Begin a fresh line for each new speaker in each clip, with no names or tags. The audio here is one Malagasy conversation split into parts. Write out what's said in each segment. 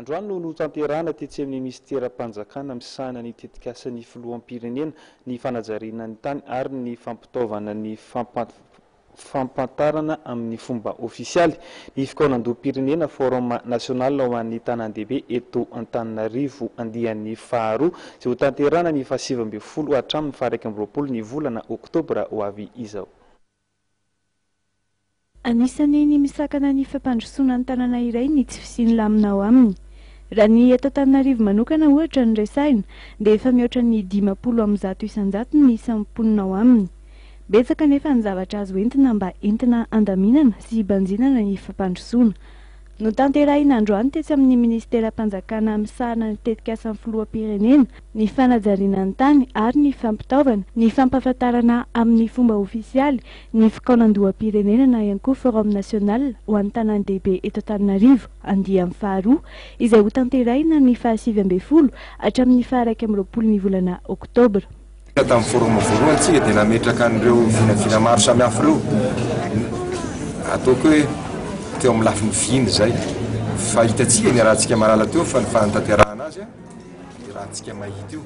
Androany no notanterahana tetsy amin'ny minisiteram-panjakana misahana ny tetikasan'ny filoham-pirenena ny fanajariana ny tany ary ny fampitaovana ny fampahafantarana amin'ny fomba ofisialy ny fikaonandoham-pirenena Forum national ho an'ny tanàn-dehibe eto Antananarivo andiany faharoa izay hotanterahana ny fahasivy ambin'ny folo hatramin'ny faha iraika amby roapolo ny volana oktobra ho avy izao.
Anisan'ny ny misakana ny fampandrosoana ny tanàna iray ny tsy fisian'ny lamina ao aminy. Raha ny eto Antananarivo manokana ohatra no resahina dia efa mihoatra ny dimampolo amin'ny zato isan-jato ny isan'ny mponina ao aminy. Betsaka anefa ny zavatra azo entina mba entina handaminana sy hibanjinana ny fampandrosoana. Notanterahina androany tetsy amin'ny Ministeram-panjakana misahana ny Tetikasan'ny Filoham-pirenena ny fanajariana ny tany ary ny fampitaovana ny fampahafantarana amin'ny fomba ofisialy ny fikaonandoham-pirenena na ihany koa Forum National ho an'ny tanàn-dehibe eto Antananarivo andiany faharoa izay hotanterahina ny fahasivy ambin'ny folo hatramin'ny faha-iraika amby roapolon'ny volana oktobra. Tamin'ny forum
voalohany tsika dia nametraka an'ireo vinavina maro samihafa ireo, ataoko hoe teo amin'ny lafiny vina izay, fa hitantsika ny arahantsika maralina teo fa ny fanatanterahana azy an, dia raha antsika mahita io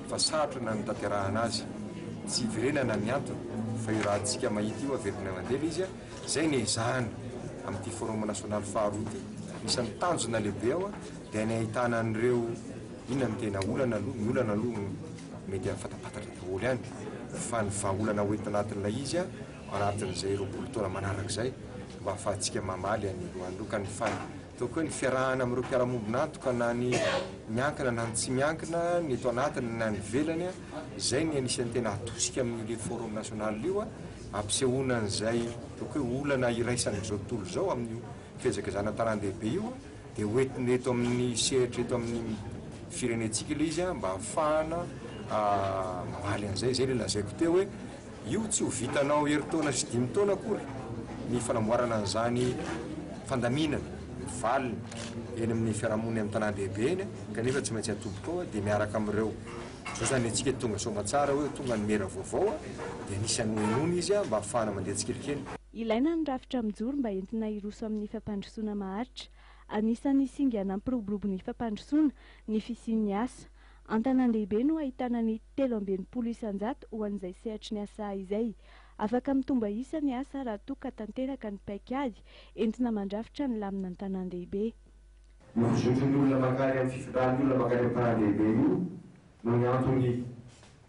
fa sarotra ny nanatanterahana azy, tsy iverenana ny antony fa io raha antsika mahita io averina mandeha ilay izy an, izay no ezahana amin'ity forum nasionaly faharoa ity, anisan'ny tanjona lehibe ao an, dia ny ahitana an'ireo. Inona no tena olana aloha? Ny olana aloha mety efa fantampantatra daholo ihany fa ny vahaolana ho entina anatin'ilay izy anatin'izay roapolo taona manaraka izay mba hahafahantsika mamaly an'i Loan ireo ka ny ataoko hoe ny fiarahana amin'ireo mpiara-mombon'antoka na ny miankina na ny tsy miankina ny eto anatiny na ny ivelany izay ny anisan'ny tena atosika amin'io forum national io ampisehoana an'izay ataoko hoe olana iraisan'izao tontolo izao amin'io fiezaka izany an-tanàn-dehibe io Dia ho entina eto amin'ny sehatra eto amin'ny firenentsika ilay izy mba hahafahana mamaly an'izay. Izay ilay lazaiko teo hoe io tsy ho vitanao herintaona sy dimy taona akory ny fanamboarana an'izany fandaminana, ny valiny eny amin'ny fiarahamonina eny an-tanàn-dehibe eny kanefa tsy maintsy atobika ao dia miaraka amin'ireo. Izao izany ny antsika tonga soamantsara hoe tonga ny maire vaovao dia anisan'ny nohenoina izy mba hahafahana mandeha tsikelikely. Ilaina ny rafitra
mijoro mba entina hiroso amin'ny fampandrosoana maharitra. Anisan'ny singa nampiroborobo ny fampandrosoana ny fisian'ny asa. An-tanàn-dehibe no ahitana ny telo amby enimpolo isan-jato ho an'izay sehatry ny asa izay. Afaka mitomba isa ny asa raha toa ka tanteraka ny paikady entina mandrafitra ny lamina an-tanàn-dehibe. Io fizotry
ny olona mankany amin'ny fifindrany olona mankany amin'ny tanàn-dehibe io no ny antony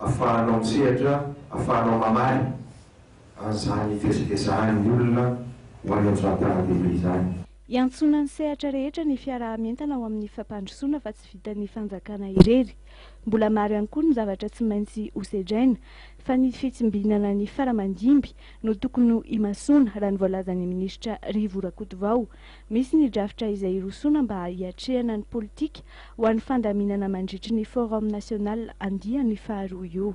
Afahanao misehatra, afahanao mamaly an'izany fihezakezahan'ny olona ho any amin'izany tanandehibe izany. Iantsoana ny
sehatra rehetra ny fiaraha-mientana ao amin'ny fampandrosoana fa tsy vitan'ny fanjakana irery. Mbola maro ihany koa ny zavatra tsy maintsy ho sedraina fa ny fitsimbinana ny faramandimby no tokony ho imasoana raha ny voalazan'ny minisitra Rivo Rakotovao. Misy ny drafitra izay hirosoana mba hiatrehana ny politika ho an'ny fandaminana mandritry ny Forum National andiany faharoa io.